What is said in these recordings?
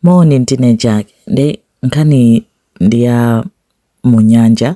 Moni ndine Jack ndipo nkhaniyi ndi ya mu nyanja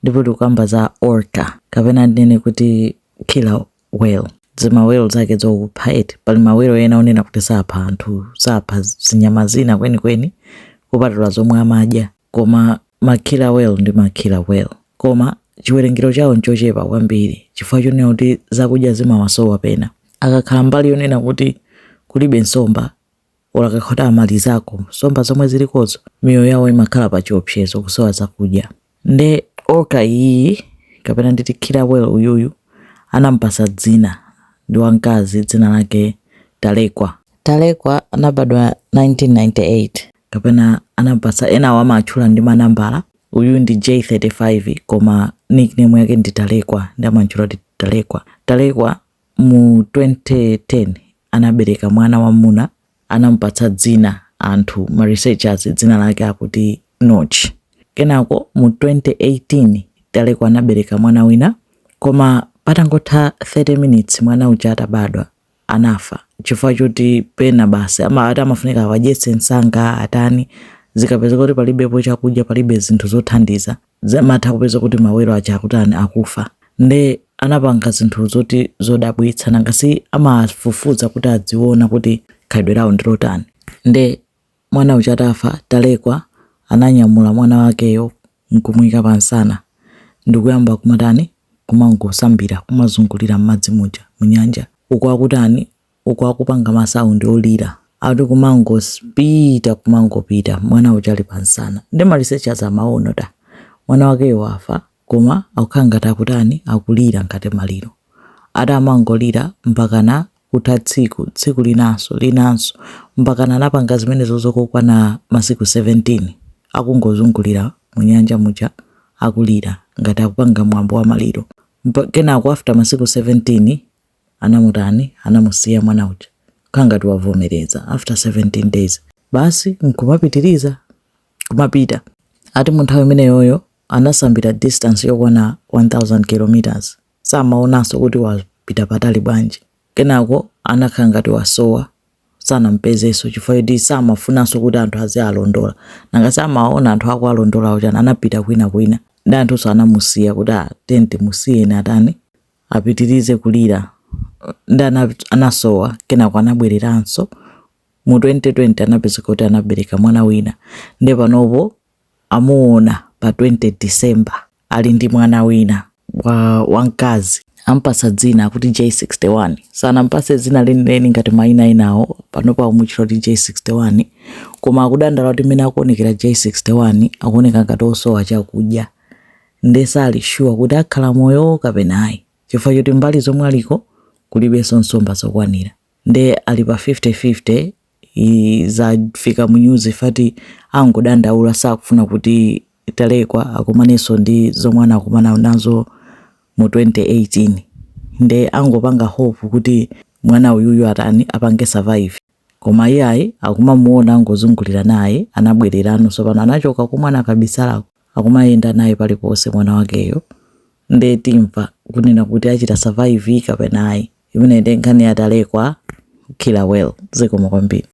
ndipo tikukamba za orca kapena ndinene kuti killer whale zima whale zake zokupha eti pali ma whale ena onena kuti sapha anthu sapha zinyama zina kwenikweni kupatula zomwe amadya koma ma killer whale ndi ma killer whale koma chiwerengero chawo nchochepa kwambiri chifukwa chonena kuti zakudya zimawasowa pena akakhala mbali yonena kuti kulibe nsomba Olo akakhota amalizako nsomba zomwe zilikozo miyoyo yawo imakhala pa chiopsezo kusowa zakudya nde orca iyiyi kapena nditi killer whale uyuyu anamupatsa dzina ndi wamkazi dzina lake Talekwa. Talekwa anabadwa 1998 kapena anamupatsa enawo amaatchula ndi manambala uyuyu ndi J35 koma nickname yake ndi Talekwa nde amamutchula kuti Talekwa. Talekwa Mu 2010 anabereka mwana wamuna anamupatsa dzina anthu ma researchers dzina lake akuti Notch. Kenako mu 2018 Talekwa anabereka mwana wina koma patangotha 30 minutes mwana uja atabadwa anafa chifukwa choti pena basi ama ati amafunika awadyetse msanga atani zikapezeka kuti palibepo chakudya palibe zinthu zothandiza zimatha kupezeka kuti ma whale aja akutani akufa nde anapanga zinthu zoti zodabwitsa nanga si amafufuza kuti aziona kuti khalidwe lawo ndi lotani nde mwana uja atafa talekwa ananyamula mwana wakeyo nkumuika pamsana ndikuyamba kumatani kumangosambira kumazungulira m'madzi muja munyanja uko akutani uku akupanga ma sound olira ati kumangopita kumangopita mwana uja ali pamsana nde ma researchers amaona kuti ah, mwana wakeyo wafa koma akukhala ngati akutani akulira ngati maliro ati amangolira mpakana kutha tsiku tsiku linanso linanso mpakana anapanga zimenezo zokokwana masiku 17 akungozungulira mu nyanja muja akulira ngati akupanga mwambo wa maliro Mpa- kenako after masiku 17 anamutani anamusiya mwana uja kukhala ngati wavomereza after 17 days basi nkumapitiriza kumapita ati munthawi imeneyoyo anasambira distance yokwana 1000 kilometers samaonanso kuti wapita patali bwanji kenako anakhala ngati wasowa sanampezenso chifukwa choti samafunanso kuti anthu azimulondola nanga si amaona anthu akumulondola chani anapita kwina kwina ndi anthunso anamusiya kuti ah, tiyeni timusiyeni atani apitirize kulira ndi anasowa kenako anabwereranso mu 2020 anapeza kuti anabereka mwana wina nde panopo amuona pa 20 December ali ndi mwana wina wamkazi ampasa dzina kuti J61 sanampase dzina lenileni ngati maina enawo panopo amutchula kuti J61 koma akudandaula kuti mmene akuonekera J61 akuoneka ngati osowa chakudya nde sali sure kuti akhala moyo kapena ayi chifukwa choti mbali zomwe aliko kulibenso nsomba zokwanira nde ali pa 50 50 zafika mu news that angodandaula sakufuna kuti Talekwa akumanenso ndi zomwe anakumana nazo mu 2018 nde angopanga hope kuti mwana uyuyu atani apange survive. Koma iyayi akumamuona angozungulira naye anabwereranso tsopano anachoka komwe anakabisalako akumayenda naye paliponse mwana wakeyo nde timva kunena kuti achita survive kapena ayi imeneyi nde nkhani ya talekwa killer whale zikomo kwambiri